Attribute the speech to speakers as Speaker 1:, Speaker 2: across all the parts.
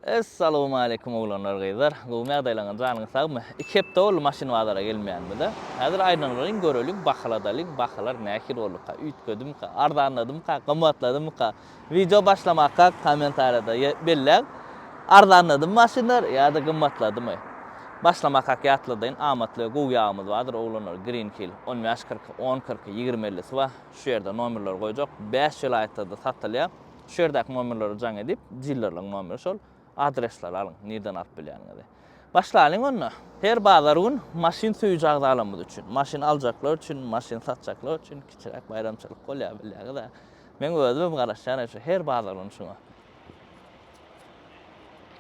Speaker 1: Essalowmaleýkum oglanlar gyzlar gowymy ýagdaýlaryňyz janyňyz sagmy iki hepde boldy maşyn bazara gelmeýänimize häzir aýnalaryň göreliň bahaladalyň bahalar nähili bolduka üýtgedimika arzanladymyka gymmatladymyka wideo başlamakak kommentariýada belläň arzanladymy maşynlar ýada gymmatladymy başlamakak ýatladaýyn amatly we gowy ýagymyz bardyr oglanlar green hill on bäş kyrk on kyrk ýigrimi ellisi bar şu ýerde nomerleri goýjak bäş welaýatda-da satylýar. Şu ýerdäki nomerlere jaň edip, dilerliň nomeri şol adresleri alyň, nirden alyp bilýäniňizi. Başlalyň onda. Her bazar gün maşyn söýüji agzalarymyz üçin, maşyn aljaklar üçin, maşyn satjaklar üçin kiçiräk baýramçylyk bolýar bilýäňiz-ä. Meň özümem garaşýan şu her bazar gün şuňa.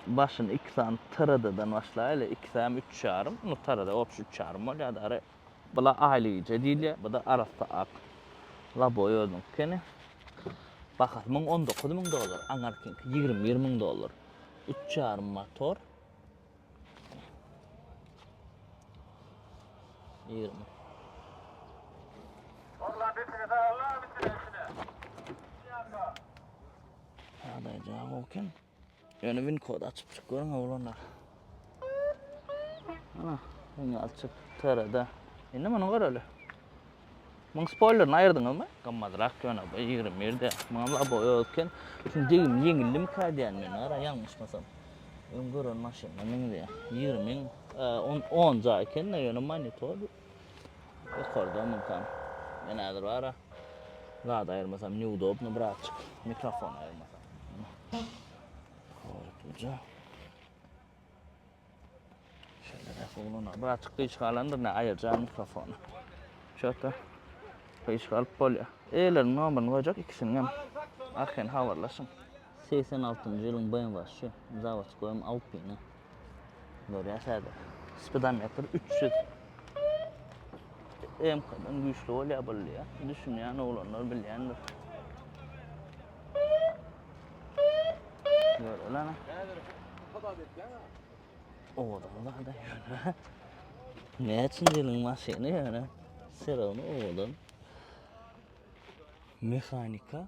Speaker 1: Başyny iki sany TRD-dan başlaýly, iki säm üç ýarym, nu TRD obşi üç ýarym bolýar-da. Bula aýlyja diýilýär, bu-da arassa ak laboý özüniňki ekeni. Bahasy muň on dokuz müň dollar, aňarkyňky ýigrimi bir müň dollar. Üç ýarym motor. Ýigrimi. Ýagdaýy jaň bolken. Ýöne win kod açyp çyk görüň oglanlar. Ana, win açyp TR-de. Indi muny göreli. Muň spoilerini aýyrdyňyzmy? Gymmatrak ýöne bu 21 de. Muňam labo ýok eken. Şuny degim ýeňildimika diýýän men ara ýalňyşmasam. Öň gören maşynyna meňzeýär. 20 ming, on, on jaý eken-de ýöne monitor. Ýokarda mümkin. Men häzir bara zat aýyrmasam neudobno birazjyk mikrofon aýyrmasam. Hoýtluja. Şeýle de gowlana. Birazjyk gyşyk alandyr ne aýyrja mikrofony. Şöta. Gyşyk alyp bolýar. Eýleriniň nomerini goýjak ikisiniň hem. Arkaýyn habarlaşyň. Segsen altynjy ýylyň BMWşy Zawodskoýum Alpina. Görýäs häzir. Spidometr üç ýüz. MK-dan güýçli bolýar boldy ýa. Düşünýän oglanlar bilýändir. Görelana. Häzir hasap etýän ha. Owadan zada ýöne. Näçinji ýylyň maşyny ýöne. Serowny owadan. Mehanika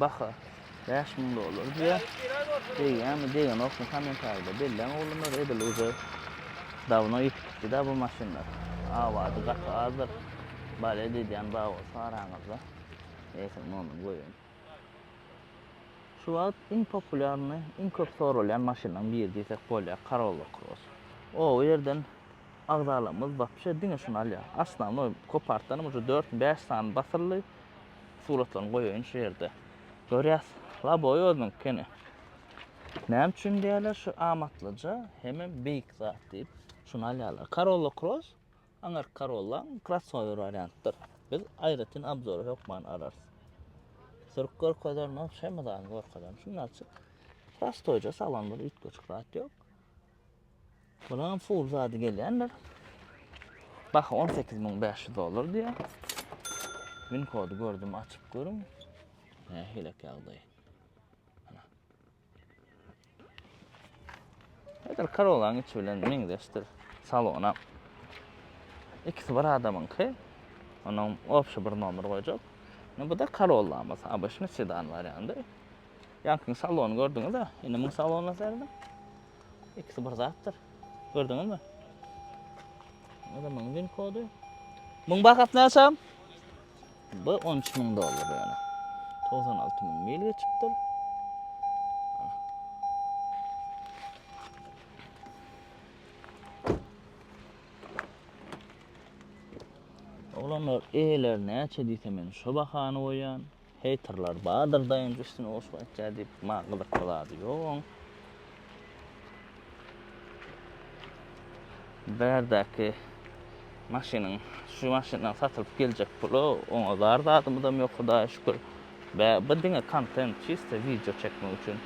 Speaker 1: Baha bäş müň dollar diýýär. Degýärmi, degenokmy kommentariýada belläň oglanlar, edil uje dawno ýitip gitdi-dä bu maşynlar. Awady gaty azdyr. Bale diýýän bar bolsa araňyzda eýsem nomyny goýaýyn. Şu wagt iň populýarny, iň köp soralýan maşynlaryň biri diýsek bolýar Corolla Cross. O ýerden agzalarymyz wapşe diňe şuny alýar. Osnownoý kopartdanam uje dört, bäş sany basyldy. Suratlaryny goýaýyn şu ýerde. Görýäs, laboý özüniňki kene. Näme üçin diýýärler şu amatlyja hemem beýik zat diýip, şuny alýarlar. Corolla Cross, aňyrky Corolla, krossower wariantdyr. Biz aýratyn obzory hökman alarys. Sürüp görkezerin, ol hemme zadyny görkezerin. Şundan açyk, prostoýja salan bir üýtgeşik zat ýok. Bulam full zady gelýändir. Baha 18500 dollar diýär. Win kody gördüm, açyp görüň. Nähili ýagdaý? Edil Karolaň içi bilen meňzeşdir. Salona. İkisi bir adamınki. Onun obşi bir nomer koyacak. Bu da Karola'mız. Abışını sedan var yandı. Yankın salonu gördüğünüz de. Yine mün salonu serdim. İkisi bir zatdyr. Gördüňiz mi? Bu da müň bin kody. Müň bahat näçem? Bu 13 müň dollar yani. 96 müň mil geçipdir. Olanlar eýeler näçe diýse men şu bahany goýan. Heýterler bardyr daýanç üstüne goşgy aýtýar diýip maňa gyzykly zady ýok oň. Bärdäki maşynyň şu maşyndan satylyp geljek pula oňa zar zadymyzam ýok Hudaýa şükür. Bä bu diňe kontent çysto wideo çekmek üçin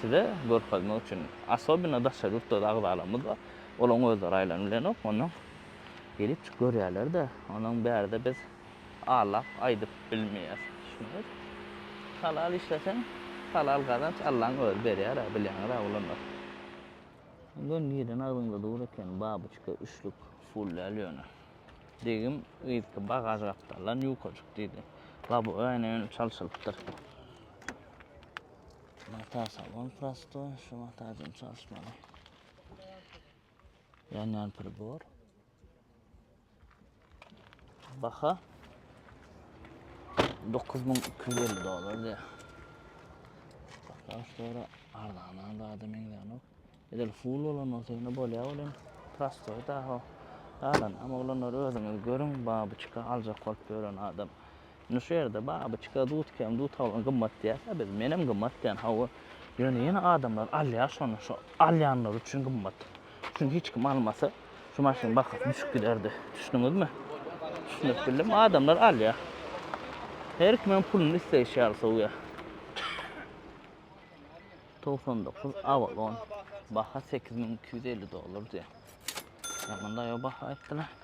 Speaker 1: size görkezmek üçin asobino daşary ýurtda agzalarymyz bar olaň özleri aýlanyp bilenok ondan gelip görýärlerde ondan bärde biz Alap aýdyp bilmeýäs düşüniz. Halal işleseň halal gazanç Allaň özi berýärä bilýäňizä oglanlar. Göni giden agzyňda dur eken babuçka üçlük. Full däl ýöne. Degim yzky bagaž gapdaldan ýukajyk diýdi. Lobowy aýna ýöne çalşylypdyr. Mata salon prostoý, şu mata bilen çalyşmaly. Ýanýan pribor. Baha 9250 dolar diýär. Baha sonra arzana da adam ýanok. Edel full bolan bolsa ýene bolýar bolýar. Prostoy da ha. Galan ama olanlar özüňiz görüň, babuçka aljak bolup ýören adam. Indi şu ýerde babyçka dudkem dutalyň gymmat diýäs-ä biz. Menem gymmat diýän hawa. Ýöne ýene adamlar alýar şony. Şo alýanlar üçin gymmat. Çünki hiç kim almasa şu maşynyň bahasy düşüp giderdi. Düşdüňizmi? Düşündirip bildim. Adamlar alýar. Her kimem puluny isleýşi ýaly sowýar. 99 Avalon. Baha 8250 dollar diýýär. Ýa munda ýa baha aýtdylar.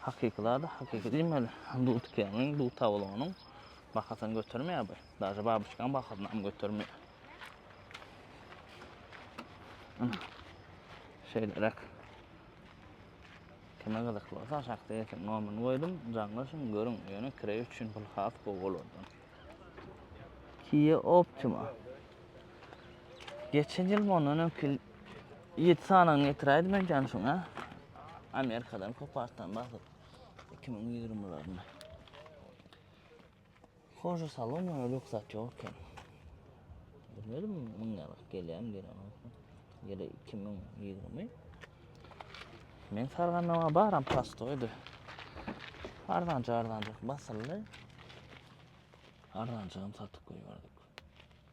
Speaker 1: Hakyky zady hakyky diýmeli. Dudkegiň, dutawlygynyň bahasyny götermeýär bu. Daže babyçkaň bahasynam götermeýär. Ana. Şeýleräk. Kime gyzykly bolsa aşakda ýeten nomerini goýdum. Jaňlaşyň, görüň. Ýöne kireý üçin pul has gowy bolardy. Kia Optima. Geçen ýyl mundan öňki ýyl Ýedi sanagyny getiräýdim men janşyň a. Amerikadan kopartdan basyp 2020-lerinde. Hoja salon ýa rugsat ýok eken. Bilmedim muň ýarak gelýän gelen olsun. Ýeri 2020. Men sargandaga baram pastoýdy. Arzanja arzanja basyldy. Arzanjagam satyp goýberdik.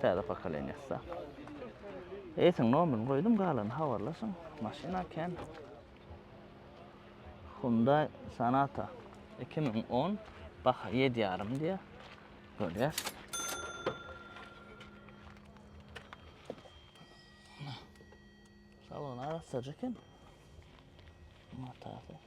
Speaker 1: Täze pokoleniýa sag. Eýsiniň nomerini goýdum, galany habarlaşyň. Maşyna kän. Hyundai Sonata 2010 baha 7 ýarym diýýär. Görýär. Salon arassaja eken. Matasa.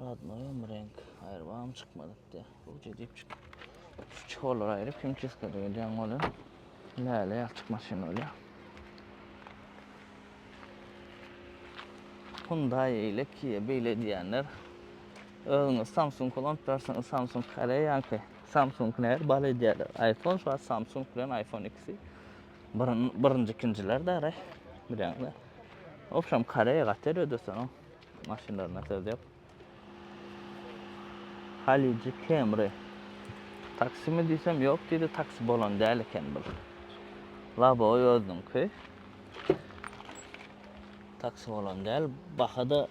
Speaker 1: Radnoýam reňk aýrybam çykmadypdy. Ruja diýip çykyp. Şu çykolary aýryp himçiskada gelýän boly. Läle ýalçyk maşyn bolýar. Hyundai eýle Kia beýle diýýänler. Özüňiz Samsung ulanyp ýörseňiz Samsung Koreýaňky. Samsung nähili bal edýärler. Aýfon şu wagt Samsung bilen Aýfon ikisi birinji ikinjiler däre. Bilýäňizmi? Obşam Koreýa gaty el ödeseň. Maşynlaryna söz ýok. Halyjy Camry. Taksimi diýsem ýok diýdi, taksi bolan däl eken bul. Laboy özüniňki. Taksi bolan däl, baha-da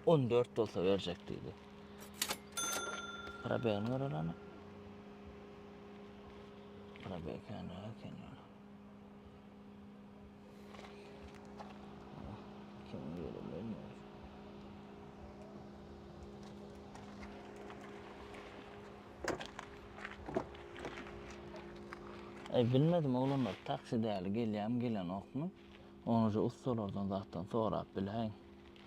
Speaker 1: 14 bolsa berjek diýdi. Probegini göreleni. Probeg känra, känra. Eý bilmedim oglanlar taksi däli gelýämi gelenokmy. Ony şu ussalardan zatdan sorap biläýiň.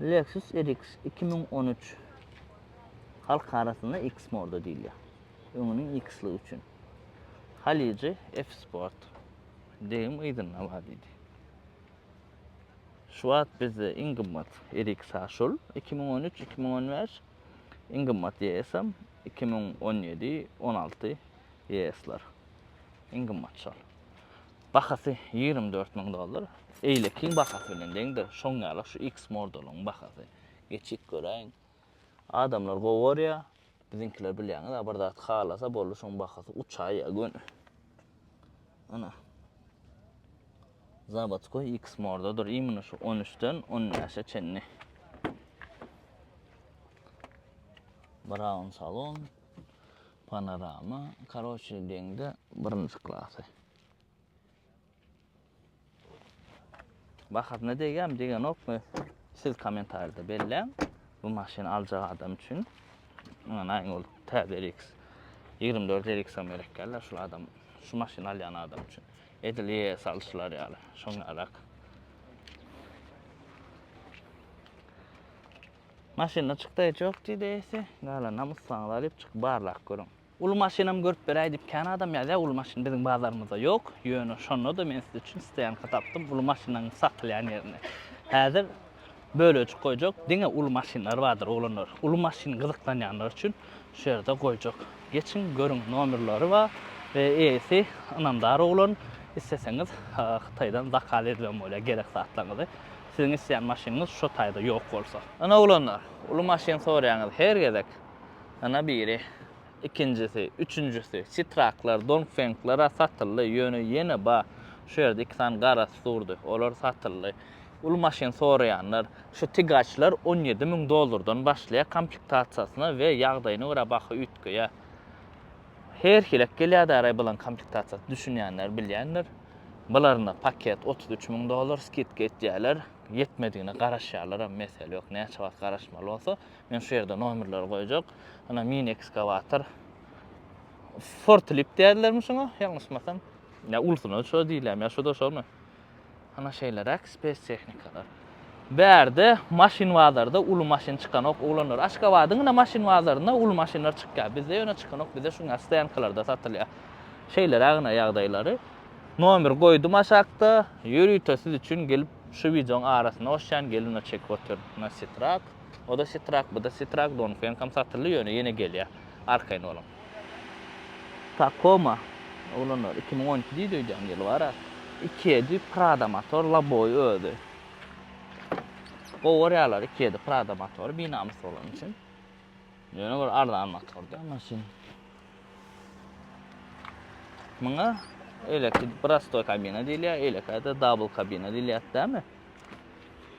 Speaker 1: Lexus RX iki müň on üç halk arasynda X-Mode diýilýär. Öňüniň X-ligi üçin. Halyjy F-Sport. Degim yzynda bar diýdi. Şu wagt bizde iň gymmat RX şul 2013-2015 iň gymmat ES-em 2017-16 ES-ler. Iň gymmat şol. Bahasy ýigrimi dört müň dollar. Eýlekiň bahasy bilen deňdir. Şoň ýaly şu X modulyň bahasy. Geçip göräýiň. Adamlar gowy görýär. Biziňkiler bilýäňiz-ä bir zat halasa boldy şoň bahasy uçaýýa göni. Ana. Zawodskoý X mordadyr imini şu on üçden on bäşe çenli. Brown salon. Panorama. Karoçe deňde birinji klasy. Bahasyna degýärmi, degenokmy? Siz kommentarýada belläň. Bu maşyny aljak adam üçin. Anaýyň ol täze RX 24 RX-am gerek geldi. Şu adam, şu maşyny alýan adam üçin. Edil ES alşylar ýaly. Şoň ýarak. Maşynda çykda hiç ýok diýdi ES. Gala namyssaňyz alyp çyk barlak görüň. Uly maşynam görüp beräý diýip kän adam ýazýar, uly maşyn biziň bazarymyzda ýok, ýöne şonda-da men siz üçin stoýanka tapdym, uly maşynlaryň satylýan ýerini. Häzir bölejik goýjak, diňe uly maşynlar bardyr, oglanlar. Uly maşyn gyzyklanýanlar üçin şu ýerde goýjak. Geçiň, görüň, nomerleri bar we eýesi ynamdar oglan, isleseňiz Hytaýdan zakaz edibem bolýar gerek zatlaryňyzy, siziň isleýän maşynyňyz şo taýda ýok bolsa. Ine, oglanlar, uly maşyn soraýaňyz, her gezek. Ýene biri, ikinjisi, üçünjisi, sitraklar, dongfengler-ä satyldy, ýöne ýene bar. Şu ýerde iki sany garasy durdy, olar satyldy. Uly maşyn soraýanlar, şu tigaçlar on ýedi müň dollardan başlaýar komplektasiýasyna we ýagdaýyna görä baha üýtgeýär. Her hilek gelýär-däraý bulan komplektasiýasy, düşünýänler bilýändir. Bularynda paket otuz üç müň dollar, skidka etýärler, ýetmedigine garaşýarlaram, mesele ýok, näçe wagt garaşmaly bolsa, Men şu ýerde nomerleri goýjak. Ana mini ekskawator. Fortlip diýerlermi şuňa? Ýalňyşmasam. Ýa ulsuna şo diýilýärmi, ýa şuda şomy? Ana şeýleräk spes tehnikalar. Bärde maşyn bazarda uly maşyn çykanok oglanlar. Aşgabadyň ine maşyn bazarynda uly maşynlar çykýar. Bizde ýöne çykanok, bizde şuňa stoýankalarda satylýar. Şeýleräk ine ýagdaýlary. Nomer goýdum aşakda. Ýörite siz üçin gelip şu wideoň arasyna goşýan, gelin we çekip otyr. Nasitrat. Oda sitrak, buda sitrak, donfenkam satyldy ýöne ýene gelýä. Arkaýyn boluň. Takoma oglanlar iki müň on iki diýdi öýdýän ýyl bara. Iki ýedi Prada motor laboý özi. Gowy görýärler iki ýedi Prada motory binamys bolany üçin. Ýöne bir arzan motor da maşyn. Muňa eleki prostoý kabina diýilýär, eleki de double kabina diýilýär, dämi?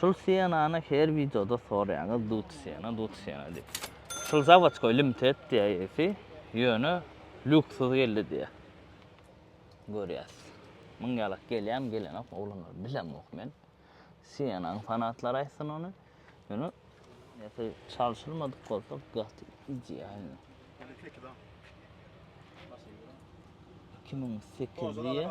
Speaker 1: Şul sienany her wideoda soraýaňyz dut siena dut siena diýip. Şul zawaçkoý limtet diýýär ýesi, ýöne lýuksuz geldi diýýär. Görýäs. Muň ýalak gelýämi gelenok oglanlar bilemok men. Sienanyň fanatlary aýtsyn ony. Ýöne ýesi çalşylmadyk bolsa gaty idealny. 2008 diýýär.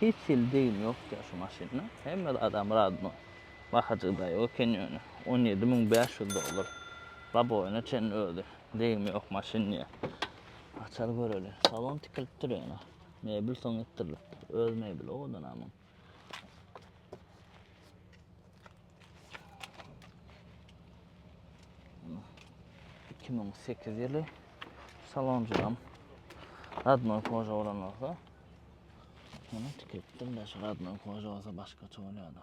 Speaker 1: Hiç hili degim ýok ýa şu maşynda. Hemme zat amradmy? Bahajyk daýy eken ýöne. On ýedi müň bäş ýüz dollar. Laboýyna çenli özi. Degimi ýok maşyn diýýä. Açar göreli. Salon tikilipdir ýöne. Mebel soň etdirilipdir. Öz mebeli owadanamyň. Iki müň sekiz ýyly salonjam radnoý koža bolan bolsa, muny tiketdim de şu radnoý koža bolsa başgaça bolýar-da.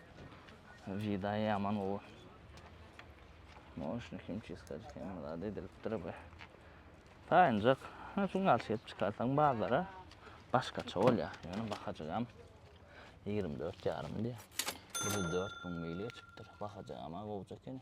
Speaker 1: Jedi ýaman gowy. Moşny kim çizkajyk hem zat edilipdir be. Taýynjak. Ha şu galşy gelip çykarsaň bazara başgaça bolýar. Ýöne bahajygam 24 ýarym diýýär. 4 müň mil geçipdir. Bahajygam-a gowja ekeni.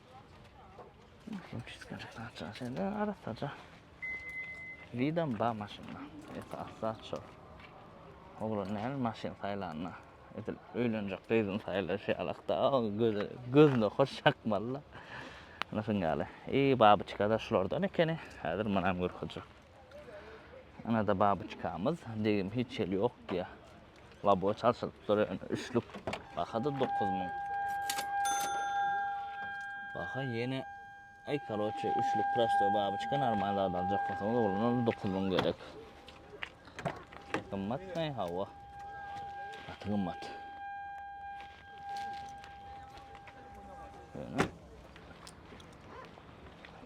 Speaker 1: Widam ba maşynda. Esas zat şo. Oglan näl maşyn saýlanda. Edil öýlenjek gyzyny saýlaýşy alakda. Göze gözüne hoş çakmaly. Ana şun ýaly. I babyçka da şulardan ekeni. Häzir munam görkezjek. Ana da babyçkamyz. Degim hiç ýeri ýok diýýär. Labo çalşyryp dur ýöne üçlük. Baha-da dokuz müň. Baha ýene Aý karoçe üçlük prostoý babyçka normal zat aljak bolsaňyz oglana dokuz müň gerek. Gymmatmy? Hawa. Gaty gymmat. Ýöne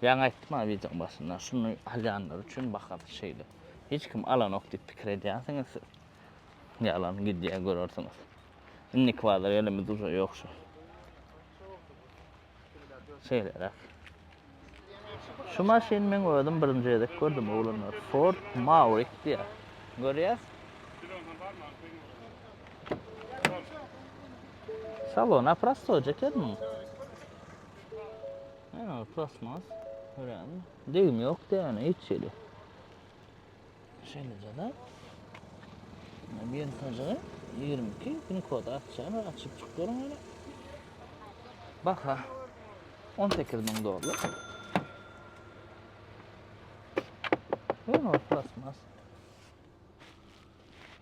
Speaker 1: Ýaňy aýtdym ha wideoň başynda, şuny alýanlar üçin baha şeýle. Hiç kim alanok diýip pikir edýänsiňiz siz. Ýalan gidýär görersiňiz. Indiki bazar ýerimiz uje ýok şu. Şeýleräk. Şu maşyny men özüm birinji gezek gördüm oglanlar. Ford Maverick diýär. Görýäs. Salon aprastoje eken muň. Ýa, plasmas. Görýäňmi? Degim ýok diýýär, hiç ýeri. Şeýleje-de, ýygnajygy ýigrimi iki pin kod açýan we açyp çykyp görüň ýöne. Baha on sekiz müň dollar. Ýöne plasmas.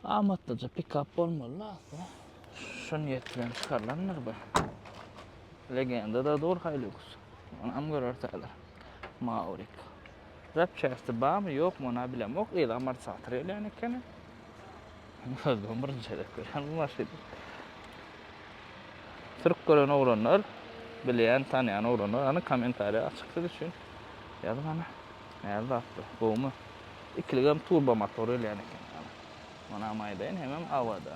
Speaker 1: Amatlyja pikap bolmaly asla. Şu niýet bilen çykarylandyr bu. Legenda da dur Hilux. Onam görertäler. Maurik. Zapçasti barmy ýokmy ony bilemok, gyz amortizator gelýän ekeni. Özüm birinji gezek görýän bu maşyny. Türk gören oglanlar, bilýän, tanýan oglanlar, hany kommentariýa açyk siz üçin. Ýazyň hany. Näme zat bu? Gowumy? Ikiligem turbo motor gelýän ekeni. Onam aýdaýyn, hemem awada.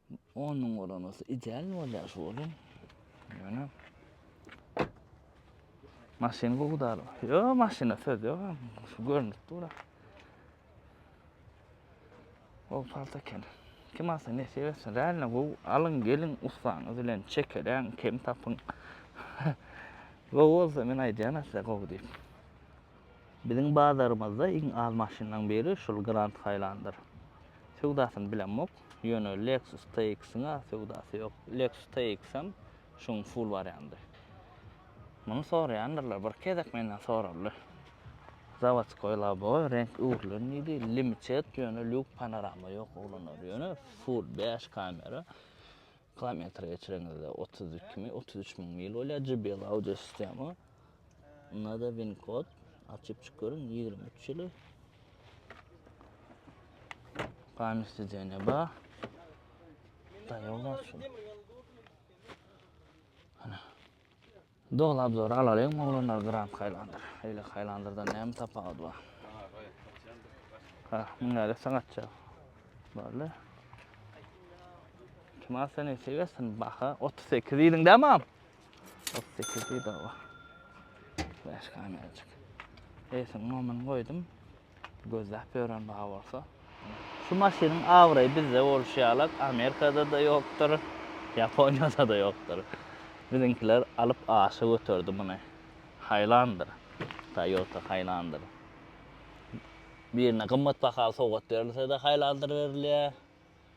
Speaker 1: On müň bolan bolsa idealny bolýar şu olam. Ýöne maşyn gowy dal. Ýo, maşyna söz ýok. Şu görnüp dur. Gowy palta eken. Kim alsa nesip etsin. Realno gowy. Alyň, geliň ussaňyz bilen çekeleň, kem tapyň. Gowy bolsa men aýdýan size gowy diýip. Biziň bazarymyzda iň az maşynlaryň biri şul Grand Hylanderdyr. Söwdasyny bilemok, ýöne Lexus TX-iň-ä söwdasy ýok. Lexus TX-em şuň full wariandy. Muny soraýandyrlar, bir gezek menden soraldy. Zawodskoý loboý, reňk öwrülen diýdi, limited, ýöne lýuk panorama ýok, ulanary ýöne full bäş kamera. Kilometr geçireňizde otuz iki mi otuz üç müň mil bolýar jbl audio sistema nada win kod açyp çyk görüň ýigrimi üç ýyly Pamyr sidenýa ba Daýoga şu. Ana. Doly obzory alalyň oglanlar gram haýlandyr eýle haýlandyrdan näme tapawudy bar. Ha, muny nädip sagatjak? Barle. Kim alsa ne seversin baha 38 ýylyň da mam. 38 ýylyň da. Beş kamerjik. Eýsin momen goýdum. Gözläp ýören bar bolsa. Şu maşynyň abraýy bizde bolşy ýalak Amerikada-da ýokdur, Ýaponiýada-da ýokdur. Biziňkiler alyp aşa göterdi muny. Haýlandyr. Toyota haýlandyr. Birine gymmat bahaly sowgat berilse-de haýlandyr berilýär.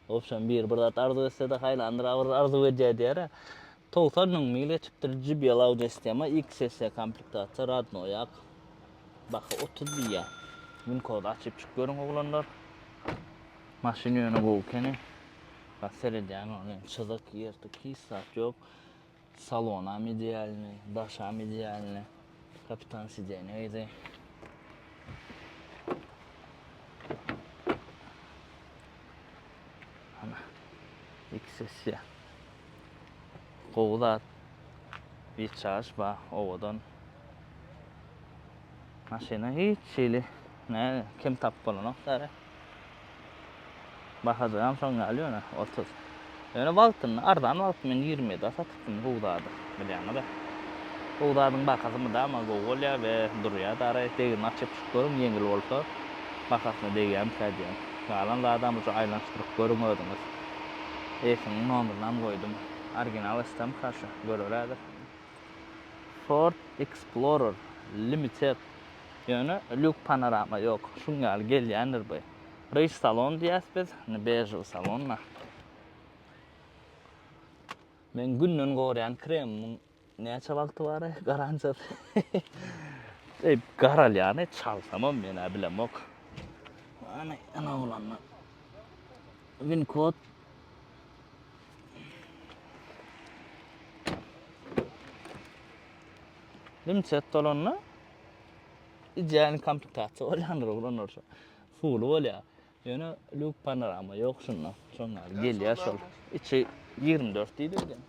Speaker 1: Wobşem biri bir zat arzuw etsede haýlandyr agyr arzuw edýär diýara. Togsan müň mil geçipdir JBL Audi S-Tema XS komplektasiýa radno ýak. Baha otuz diýýär. Winkody açyp çyk görüň oglanlar. Maşyn ýöne gowy ekeni. Bak seredýän ol çyzyk ýyrtyk hiç zat ýok. Salonam idealnyý, daşam idealnyý. Kapitan sidenýa ýygy. Ana. Iki sessiýa. Gowy zat. Biçaryş bar, owadan. Maşyna hiç hili Näge kim tapyp bolanok däli. Bahadanam şoň ýaly ýöne otuz. Ýöne wagtynda arzan wagty men ýigrimi ýedä satypdym gowy zady bilýäňiz-ä. Gowy zadyň bahasy mydama gowy bolýar we durýar-da araý. Degirmi açyp çykyp görüň ýeňil bolsa bahasyna degýärmikä diýen. Galan zadam uje aýlanyşdyryp görüň özüňiz. Eýsiniň nomerynam goýdum. Original STMK şu göreli häzir. Ford Explorer Limited. Ýöne lýuk panorama ýok. Şuň ýaly gelýändir bu. Ryž salon diýýäs biz. Indi bežowy salonda. Meň günden gorýän kremimiň näçe wagty bar e, garansiýasy. Eý, garalýan e, çalsamam men-ä bilemok. Hany, ene bolanda. Win kod. Limçet dolanda Ideal komplektasiýa bolýandyr oglan orta. Suwly bolýar. Ýöne luk panorama ýok şunda. Şoň ýaly gelýär şol. Içi 24 diýdi öýden.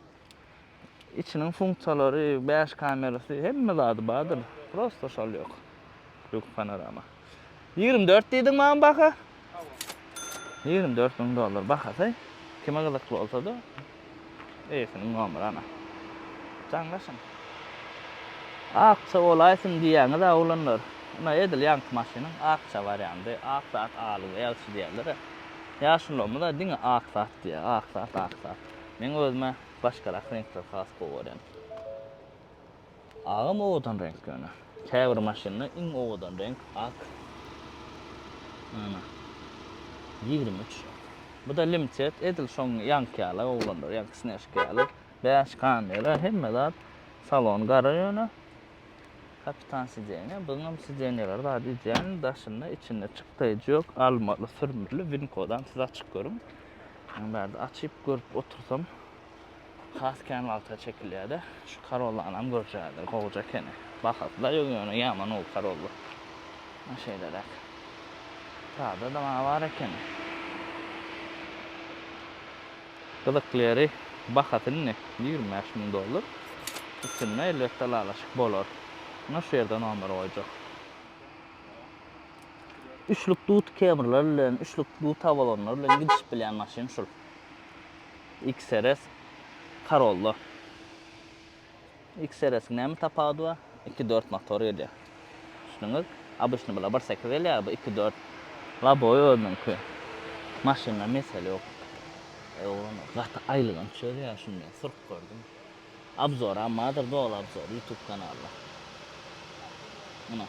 Speaker 1: İçiniň funksiýalary, 5 kamerasy, hemme zady bardyr. Prosta şol ýok. Luk panorama. Ýigrimi dört diýdiň maňa baha. Ýigrimi dört müň dollar bahasy. Kime gyzykly bolsa-da, eýesiniň nomeri ana. Jaňlaşyň. Akja bolaýsyn diýýäňiz-ä, oglanlar. Ine, edil ýaňky maşynyň akja wariandy. Ak zat alyň, ýagşy diýerler-ä. Ýaşulymyz-a diňe ak zat diýýär. Ak zat, ak zat. Meň özüm-ä başgarak reňkleri has gowy görýän. Agam owadan reňk ýöne. Käbir maşynda iň owadan reňk ak. Ana. 23. Bu-da limtet, edil şoň ýaňky ýaly oglanlar, ýaňky snežka ýaly. Bäş kamera, hemme zat. Salon gara ýöne. Kapitan sidenýa, bunuňam sidenýalar zady idealny, daşynda, içinde çykdaýjy ýok, almaly, sürmürli, win kodam siz açyp görüň. Muny bärde açyp görüp otursam. has kän wagta çekilýärde. Şu Corollany görjädir, gowja ekeni. Bahatla ýöne ýöne ýaman ol Corolla. Maşa şeýleräk. Prado da maňa bar ekeni. Gyzykly ýeri bahasy indi ýigrimi bäş müň dollar. Üstünde elbetde ylalaşyk bolar. Ine şu ýerde nomer goýjak. Üçlük dud kemrler bilen, üçlük dud tabalanlar bilen gidişip bilýän maşyn şul. XRS Corolla. XRS-iň näme tapawudy bar? Iki dört motor gelýär. Düşündüňiz? Obýçny bular bir sekiz gelýär, bu iki dört. Lobowy özüniňki. Maşynda mesele ýok. Eý oglan, gaty aýylganç çözýär şunda. Sürüp gördüm. Abzoram bardyr doly abzor youtube kanalda. Muna.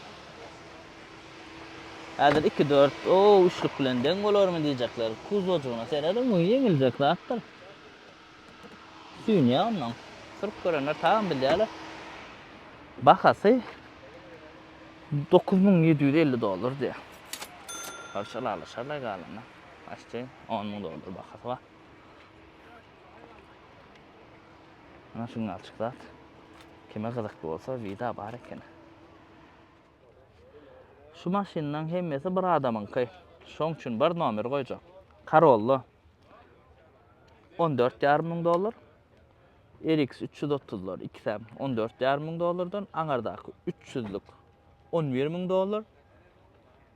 Speaker 1: Häzir iki dört o üçlük bilen deň bolarmy diýjekler. Kuzojygyna serediň bu ýeňiljek zatdyr. Süýnýä ondan. Sürüp görenler tabyn bilýärler. Bahasy dokuz müň ýedi ýüz elli dollar diýýär. Sorşalalyşarlaý galanda. Başda on müň dollar bahasy bar. Ana şu ňalçyk zat. Kime gyzykly bolsa vida bar eken. Şu maşynlaň hemmesi bir adamyňky. Şoň üçin bir nomer goýjak. Corolla on dört ýarym müň dollar. RX üç ýüz otuzlar ikisem on dört ýarym müň dollardan, aňardaky üç ýüzlük on bir müň dollar.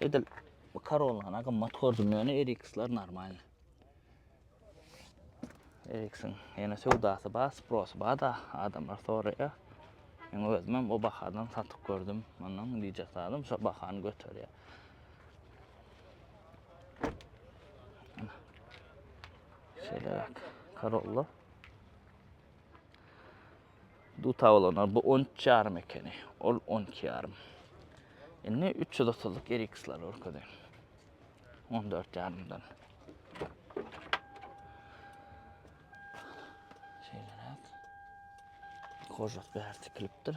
Speaker 1: Edil bu Corolla'na gymmat gördüm ýöne RX-ler normalny. RX-iň ýene söwdasy bar, sprosy bar da adamlar soraýar. Men özüm hem o bahadan satyp gördüm. Ondan dije salym şo bahany göterýär. Şeýle bak. Corolla. Duta bolanlar bu on üç ýarym ekeni. Ol on iki ýarym. Indi üç ýüz otuzlyk eriksleri görkezeýin. On dört ýarymdan. Şeýleräk. Kožak bäri tikilipdir.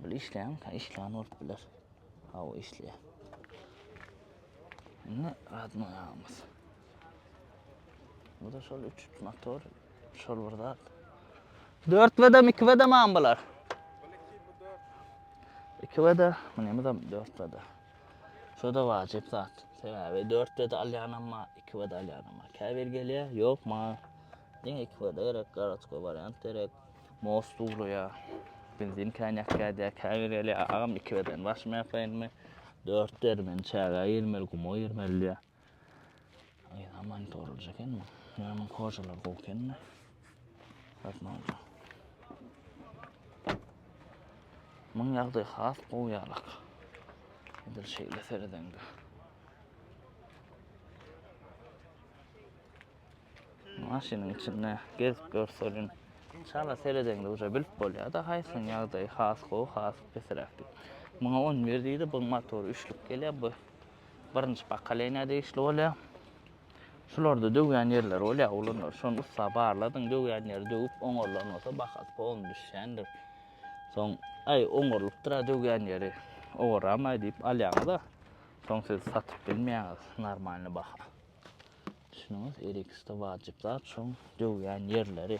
Speaker 1: Bul işleýän, ha işleýän bolup biler. Hawa işleýär. Indi radno ýagymyz. Bu da şol 3 motor, şol bir zat. 4 vedam, 2 vedam am bular. 2 veda, bu näme zam 4 veda. Şu da wajyp zat. Sebäbi 4 veda alýan amma 2 veda alýan amma. Käbir gelýär, ýok maňa. Diňe 2 veda gerek, garatko wariant gerek. Most uglaýar. Benzin kän ýakýar diýýär, käbir gelýär, agam iki beden başyma ýapaýynmy? Dört dermeni çägä girmeli, guma girmeli diýýär. Aýda monitorlaýjy eken bu. Ýöne munuň kožalary gowy eken-de. Gatnawja. Munuň ýagdaýy has gowy ýalak. Edil şeýle seredeňde. Maşynyň içinde gezip görseliň. Çala seredeňde uje bilip bolýar-da haýsynyň ýagdaýy has gowy, has pesiräk diýip. Muňa on bir diýdi, buň motory üçlük gelýär, bu birinji pokoleniýa degişli bolýar. Şularda döwýän ýerleri bolýar oglanlar, şony ussa barladyň, döwýän ýeri döwüp oňarylan bolsa bahasy polny düşýändir. Soň, aý oňarylypdyr-a döwýän ýeri, owaramaý diýip alýaňyz-a, soň siz satyp bilmeýäňiz normalny baha. Düşüniňiz Erixde wajyp zat şoň döwýän ýerleri.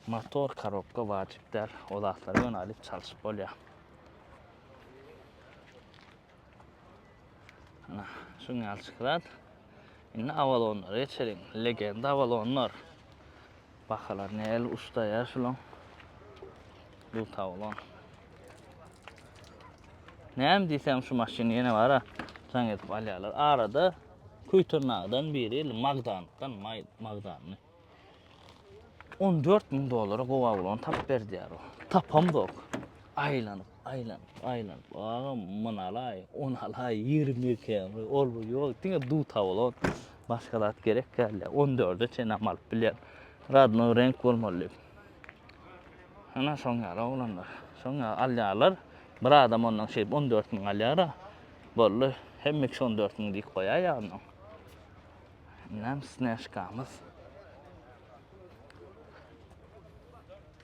Speaker 1: Motor korobka wajyp däl. O zatlary ýöne alyp çalşyp bolýar. Ana şuň ýaly şyhrat. Indi awalonlara geçeliň. Legenda awalonlar. Bahalar nähili uçdaýa şulaň. Bu tawlan. Näme diýsem şu maşyny ýene bara jaň edip alýarlar. Arada Küýtürnagydan biri il Magdandan maý Magdanny. 14 müň dollara gowa ulany tap berdiýär o. Tapam zok. Aýlanyp. Aýlanyp, aýlanyp, agam, muny alaý, ony alaý, ýigrimi ýedi km, ol bu ýok, diňe duw tabulon, başga zat gerek däl, diýýär. On dörde çenäm alyp bilýän. Radnoý reňk bolmaly diýip. Ana şoň ýaly oglanlar. Şoň ýaly alýarlar. Bir adam ondan şeýdip on dört müň alýar-a. Boldy. Hemme kişi on dört müň diýip goýar ýa ondan. Näme snäşkamyz.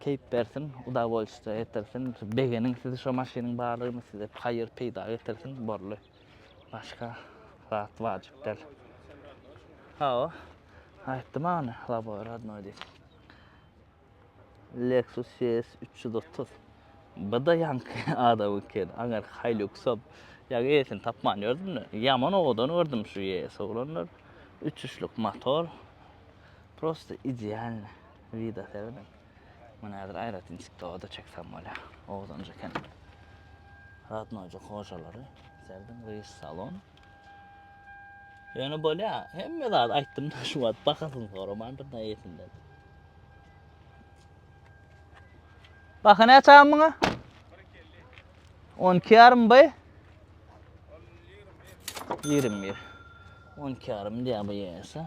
Speaker 1: Keýp bersin, udavolşitja etirsin, begeniň sizi şo maşynyň barlygyny size haýyr peýda getirsin borly. Başga zat wajyp däl. Hawa. Aýtdy maňa ony loboý rodnoý diýip. Lexus CS üç ýüz otuz. Bu-da ýaňky adamyňky eken. Aňyrky Hiluxam. Ýa eýesini tapman ýördüm-de. Ýaman owadan gördüm şu ES oglanlar. Uçuşlyk motor. Prosta idealny. Wida serediň. Muny häzir aýratyn TikToga-da çeksem bolýar. Oguzanja kent. Radnoja hojalary. Serediň Rys salon. Ýöne bolýar. Hemme zat aýtdym-da şu wagt bahasyny soramandyr näýesinden. Baha näçe agam muňa? 12 yarım bay. 21. 12 yarım diye bu yese.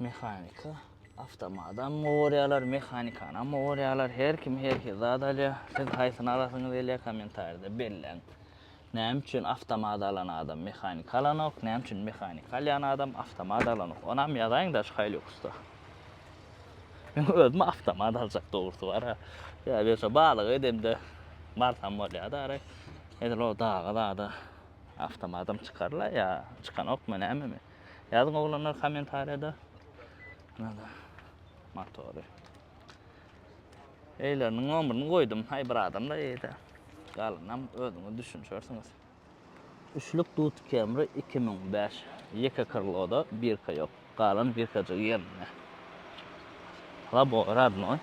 Speaker 1: Mehanika, awtomatam gorýarlar, mehanikanam gorýarlar. Her kim her hil zat alýar. Siz haýsyny alasyňyz gelýär kommentariýada belläň. Näme üçin awtomat alan adam mehanika alanok, näme üçin mehanika alýan adam awtomat alanok. Onam ýazaýyň daş Hiluxda. Men özüm awtomat aljak dogrusy bar. Ýa berse balyk edemde barsam bolýar-da ara. Edil o daga zada awtomatam çykarla ýa çykanokmy näme men. Ýazyň oglanlar kommentariýada. Nada. Motory. Eýleriniň nomerini goýdum. Haý bir adam da eýde. Galynam özüňiz düşünşersiňiz. Üçlük Duty Camry 2005. Ýeke krloda birka ýok. Galan birkajygy ýerinde. Labowy radnoý.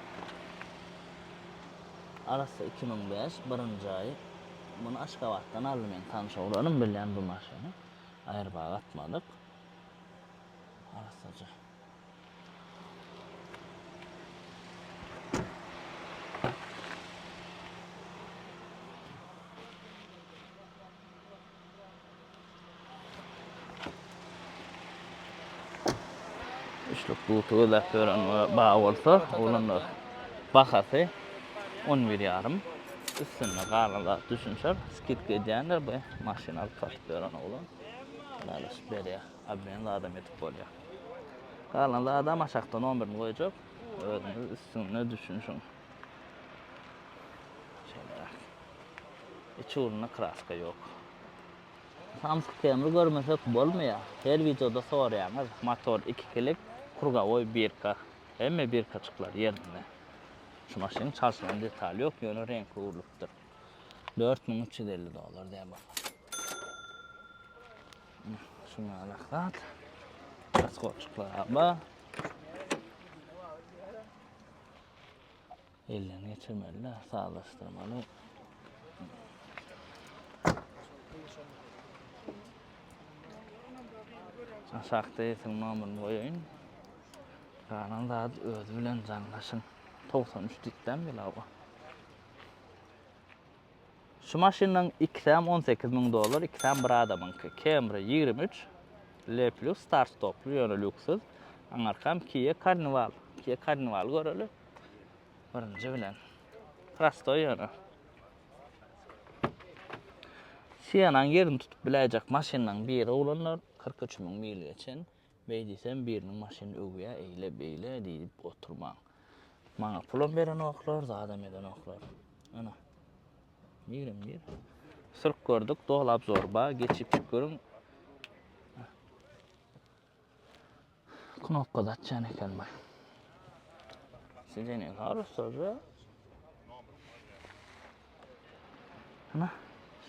Speaker 1: Arassa 2005 birinji aýy. Muny Aşgabatdan aldy men tanyş oglanym bilýän bu maşyny. Aýrybaga atmalyk. Arassaja. Üçlük duty gözläp ýöreniňe baý bolsa, oglanlar, bahasy on bir ýarym. Üstünde galan zat düşünişer. Skidka edýänler bu maşyny alyp satyp ýören oglan. Ylalaşyp berýär. Obmen zadam edip bolýar. Galan zadam aşakda nomerini goýjak. Özüňiz üstünde düşünişiň. Şeýleräk. Iç ugrunda kraska ýok. Samsyk temry görmesek bolmaýa her wideoda soraýaňyz motor ikikilik krugowoý birka hemme birkaçyklar ýerinde şu maşynyň çalşylan detaly ýok ýöne reňki urlupdyr dört müň üç ýüz elli dollar diýen bolsa şu ýalak zat raskolçyklar aba Elden geçirmeli-de, sazlaşdyrmaly. Aşakda ýetiň nomerini goýaýyn. Galan zady özi bilen jaňlaşyň. Togsan üç dikdäm gel, hawa. Şu maşynlaryň ikisem on sekiz müň dollar, ikisem bir adamyňky. Camry ýigrimi üç, L plus start stoply, ýöne lýuksyz. Aňarkam Kia Carnival. Kia Carnival göreli. Birinji bilen. Prostoý ýöne. Sienanyň ýerini tutup biläýjek maşynlaryň biri oglanlar, kyrk üç müň mil geçen. Beý diýsem, biriniň maşynyny öwýä, eýle, beýle diýip oturmaň. Maňa pulam berenoklar, zadam edenoklar. Ana, nirem nir? Syrk gördük, doly abzor ba, geçip çyk görüň. Knopka zatçan eken bu. Sizden ne harus sözü? Ana,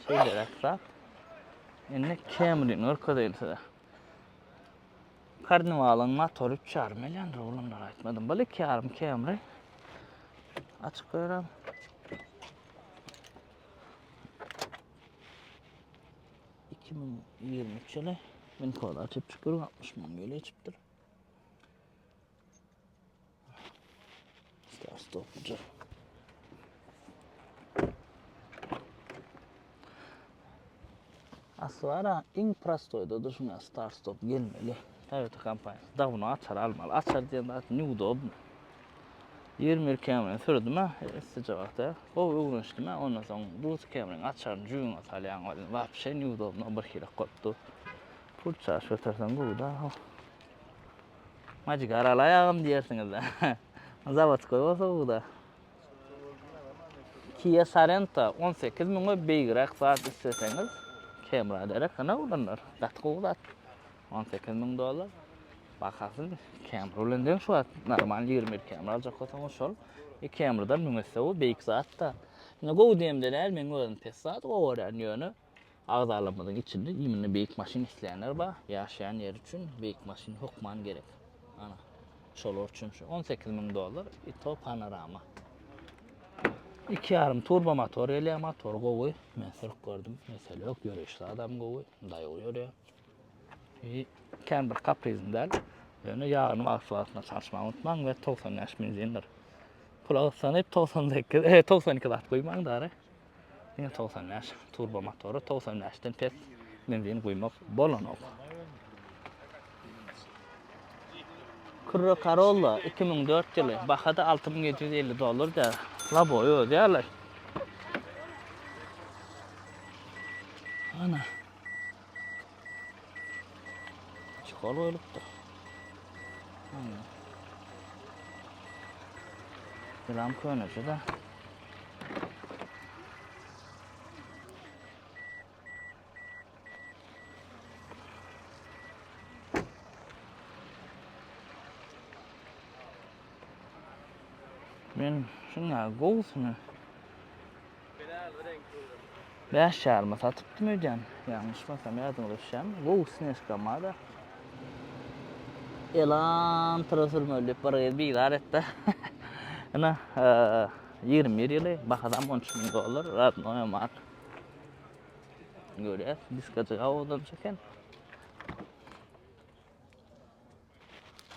Speaker 1: şeýleräk zat. Indi Camry-ni görkezeýin size. Karniwalyň motory 3,5 million rublyny aýtmadym. Bu 2,5 Camry. Açyk görem. Iki ming ýigrimi üç ýyly. Min koda açyp çykyr, altmyş müň ýyl geçipdir. Aslara iň prostoýdadyr şuňa start stop gelmeli. Toyota kompaniýasy. Da bunu açar almaly. Açar diýen zat neudobny. 21 Camry sürdüm ha, istije wagtda. O öwrenişdim ha, ondan soň Buz Camry açaryny jübüňe salýaň welin wapşe neudobno bir hili gopdy. Pul çaş göterseň bu da. Majik aral aýagym diýersiňiz-dä. Zawodskoý bolsa bu-da. Kia Sorento on sekiz müňe beýigräk zat isleseňiz, Camry-a derek ene ulandyr. Gaty gowy zat. On sekiz müň dollar. Bahasy Camry bilen deň şu wagt. Normal ýigrimi bir Camry aljak bolsaňyz şol. E Camry-dan müň esse gowy, beýik zat-da. Ine gowy diýemde däl, meň özüm pes zat gowy görýän ýöne. Agzalarymyzyň içinde iýminde beýik maşyn isleýänler bar. Ýaşaýan ýeri üçin beýik maşyn hökman gerek. Ana, şolar üçin şu 18 müň dollar Ito Panorama. Iki ýarym turbo motor gelýär, motor gowy. Men sürüp gördüm, mesele ýok, ýöreýişli adam gowy, daýaw ýörýär. I kän bir kaprizm däl. Ýöne ýagyny wagtly-wagtynda çalyşmagy unutmaň we 95 benzindir. Pul agytsanyp 98, e, 92 zat goýmaň dary. Diňe togsan bäş turbo motory, togsan bäşden pes benzin guýmak bolanok. Kürre Karolla iki müň dört ýyly, baha-da alty müň ýedi ýüz elli dollar däl. Laboý özi ýaly. Ana. Çekol goýlupdyr. Hany. Selam köneçe de. Men şuna gowusyny Bäş ýaryma satypdym öýdýän, ýalňyşmasam, ýadyňyza düşýärmi? Gowy snejkam bar-a. Elantra sürmeli diýip bir gyz bizar etdi. Ine, ýigrimi bir ýyly, bahasam on üç müň dollar, radnoýam bar. Görýäs, diskajyk awadanç eken.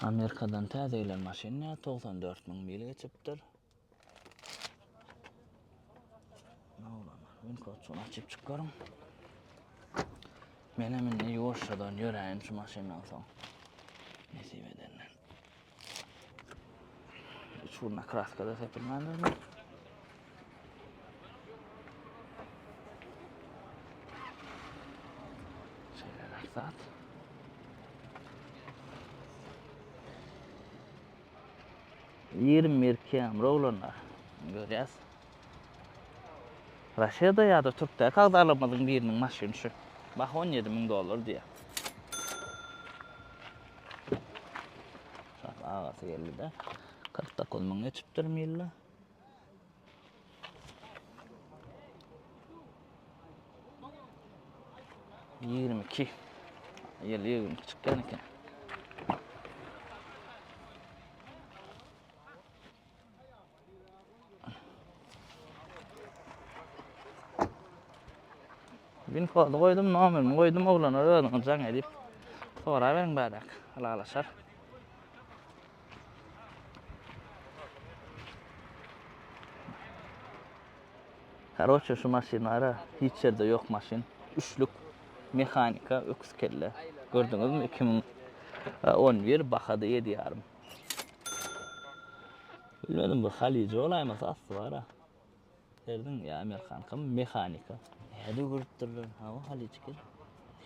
Speaker 1: Amerikadan täze gelen maşyn ýa, togsan dört müň mil geçipdir. Winkoçuny açyp çykaryn. Men hem indi ýuwaşjadan ýöräýin şu maşyndan soň. Nesip edende. Üç urna kraskada sepilmändir mi? Şeýleräk zat. Ýigrimi bir kemri oglanlar. Görýäs. Raşeda ýa-da türkde kagdalarymyzyň biriniň maşyny şu. Baha on ýedi müň dollar diýýär. Şat agasy geldi-de. Kyrk dokuz müň geçipdir milla. Ýigrimi iki. Ýel ýigrimi iki çykýan eken. Bin kodu goýdum, nomerimi goýdum, oglanlar özüňiz jaň edip. Soraberiň bädäk, ylalaşar. Karoçe şu maşyn bara hiç ýerde ýok maşyn üçlük mehanika öküz kelle gördüňizmi iki müň on bir bahada ýedi ýarym bilmedim bu halyja bolaýmasa asty bara. Serdiň ýa amerikankamy mehanika. Nädip görüpdirler hawa haliçki.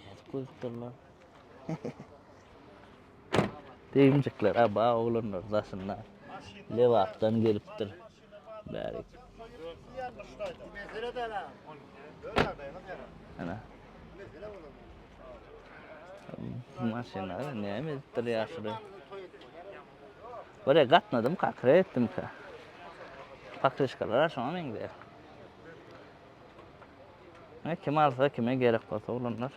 Speaker 1: Nädip görüpdirler. Degimjikler aba oglanlar daşynda. Lebapdan gelipdir. Bärik. Ana. Maşynlar näme edipdir ýaşuly. Görä gatnadymka, kre etdimka. Pokrişkalar-a şoňa meňzeýär. Ine, kim alsa, kime gerek bolsa ulanlar.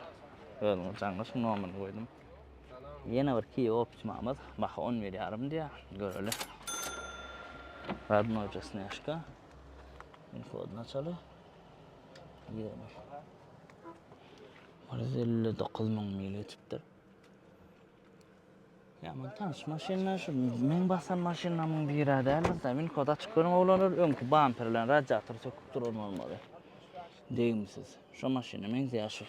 Speaker 1: Özüňiz jaňňyş, nomerini goýdum. Ýene bir kiwi opçymamyz. Baha on bir ýarym diýýär. Göreli. Radnoja snejka. Infodyny açaly. Ýene. Bir ýüz elli dokuz müň mil geçipdir. Ýaman tanyş maşynlar şu meň basan maşynlarymyň biri däl. Win kod açyk görüň oglanlar, öňki bamper bilen radiator söküp duran bolmaly. Degimsiz. Şu maşyna meňzeýär şu.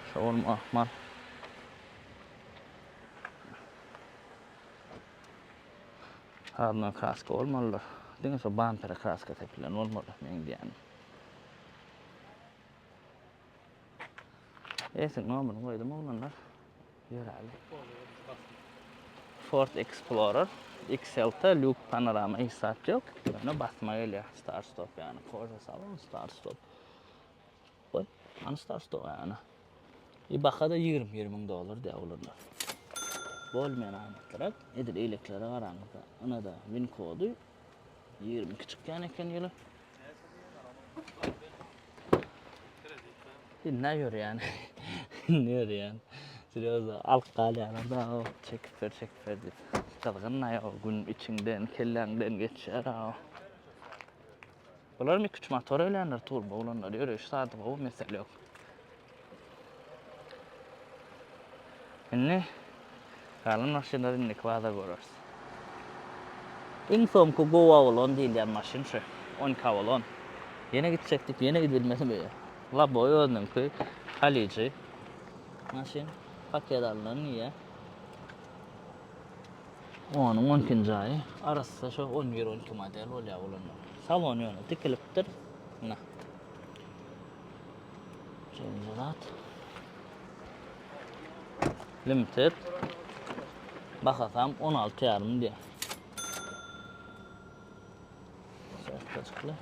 Speaker 1: Şu bolma ahmal. Harna kraska olmalylar. Diňe şu bampere kraska sepilen olmaly meňzeýän. Esiň nomerini goýdum oglanlar. Ýöräli. Ford Explorer XLT Luke Panorama hiç zat ýok. Ýöne basma gelýär. Start stop ýany. Korza salon start stop. Goý. Ana start stop ýany. I bahada 20 ming dollar diýär oglanlar. Bolmaýan amatlarak. Edil eýleklere garaňyzda. Ynada win kody Ýigrimi iki çykýan eken ýyly. Dinle ýörýän. Dinle ýörýän. Serýozno alyp galýarlar-da, çekip ber, çekip ber diýip. Gyzgyn-da ýa gün içiňden, kelläňden geçýär-ä. Bularym iki üç motor öýländir turbo bolanlar ýöreýşi sady gowy mesele ýok. Indi galan maşynlar indiki bazar göreris. Iň soňky gowy awalon diýilýän maşyn şu on iki awalon. Ýene gitjek diýip ýene gidilmese beýe. Laboy özüniňki halyjy maşyn paket alnan ýe. Onyň on ikinji aýy arassa şo on bir on iki model bolýar ulanyp. Salon ýöne tikilipdir. Mına. Şeýle zat. Limited. Bahasam on alty ýarym diýýär. Şapkajykly.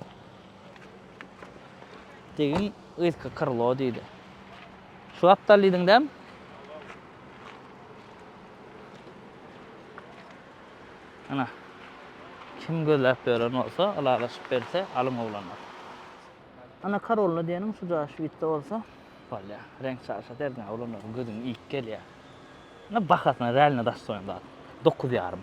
Speaker 1: Degin yzky krlo diýdi. Şu aptal diýdiň däm? Ana. Kim gözläp beren bolsa, ylalaşyp berse, alyň oglanlar. Ana karolny diýeniň şu jaş witde bolsa. Bolýa. Reňk çaşa derdiň oglanlaryň gözüň iýip gelýä. Ina bahasyna realno dastoýin zat. Dokuz ýarym.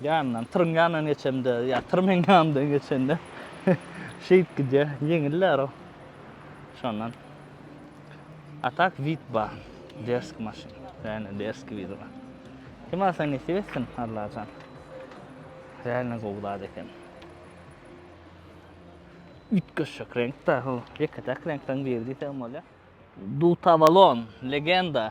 Speaker 1: Ýanyndan, tyryň ýanyndan geçemde, ýa tyr meň ýanymdan geçende şeýdip gidýär. Ýeňiller o. Şondan. A tak wid bar. Derski maşyn. Ýa-da derski wid bar. Kim alsa nesip etsin, Allajan. Reально gowy zat eken. Üýtgeşik reňkde, hol ýeke-täk reňkden biri diýseň bolýar. Dutavalon, legenda.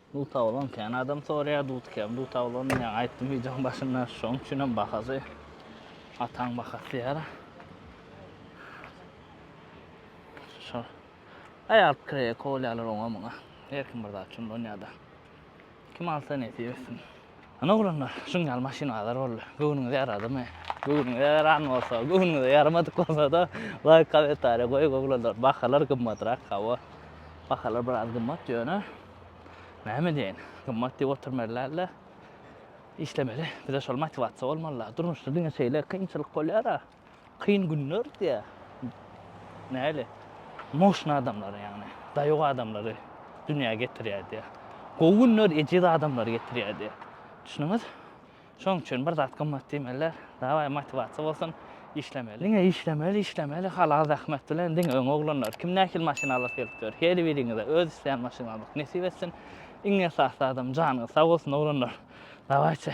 Speaker 1: Dutawlan kän adam soraýar dut kän dutawlan men aýtdym wideoň başynda şoň üçinem bahasy ataň bahasy diýär. Şo. Aý alyp kireýe kowalýarlar oňa muňa. Her kim bir zat üçin dönýärde. Kim alsa nesip etsin. Ana oglanlar, şuň ýaly maşyn azar boldy. Göwnüňize ýaradymy? Göwnüňize ýaran bolsa, göwnüňize ýaramadyk bolsa-da, laýk, kommentariýa goýuň oglanlar. Bahalar gymmatrak, hawa. Bahalar biraz gymmat ýöne Näme diýeýin, gymmat diýip oturmerlerle, işlemeli. Bize şol motiwasiýa bolmalylar. Durmuşda diňe şeýle kynçylyk bolýar-a. Kyn günler diýýär. Näli? Moşna adamlary ýagny, daýaw adamlary dünýä getirýär diýýär. Gowy günler ejiz adamlary getirýär diýýär. Düşündüňiz? Şonuň üçin bir zat gymmat diýmeliler. Dawaý motiwasiýa bolsun, işlemeli. Diňe işlemeli, işlemeli, halal zähmet bilen diňe öňe oglanlar. Kim nähili maşyn alasy gelip ýör, her biriňize öz isleýän maşynyňyzy nesip etsin. Iň esasy zadam janyňyz sag bolsun oglanlar. Dawaýçy.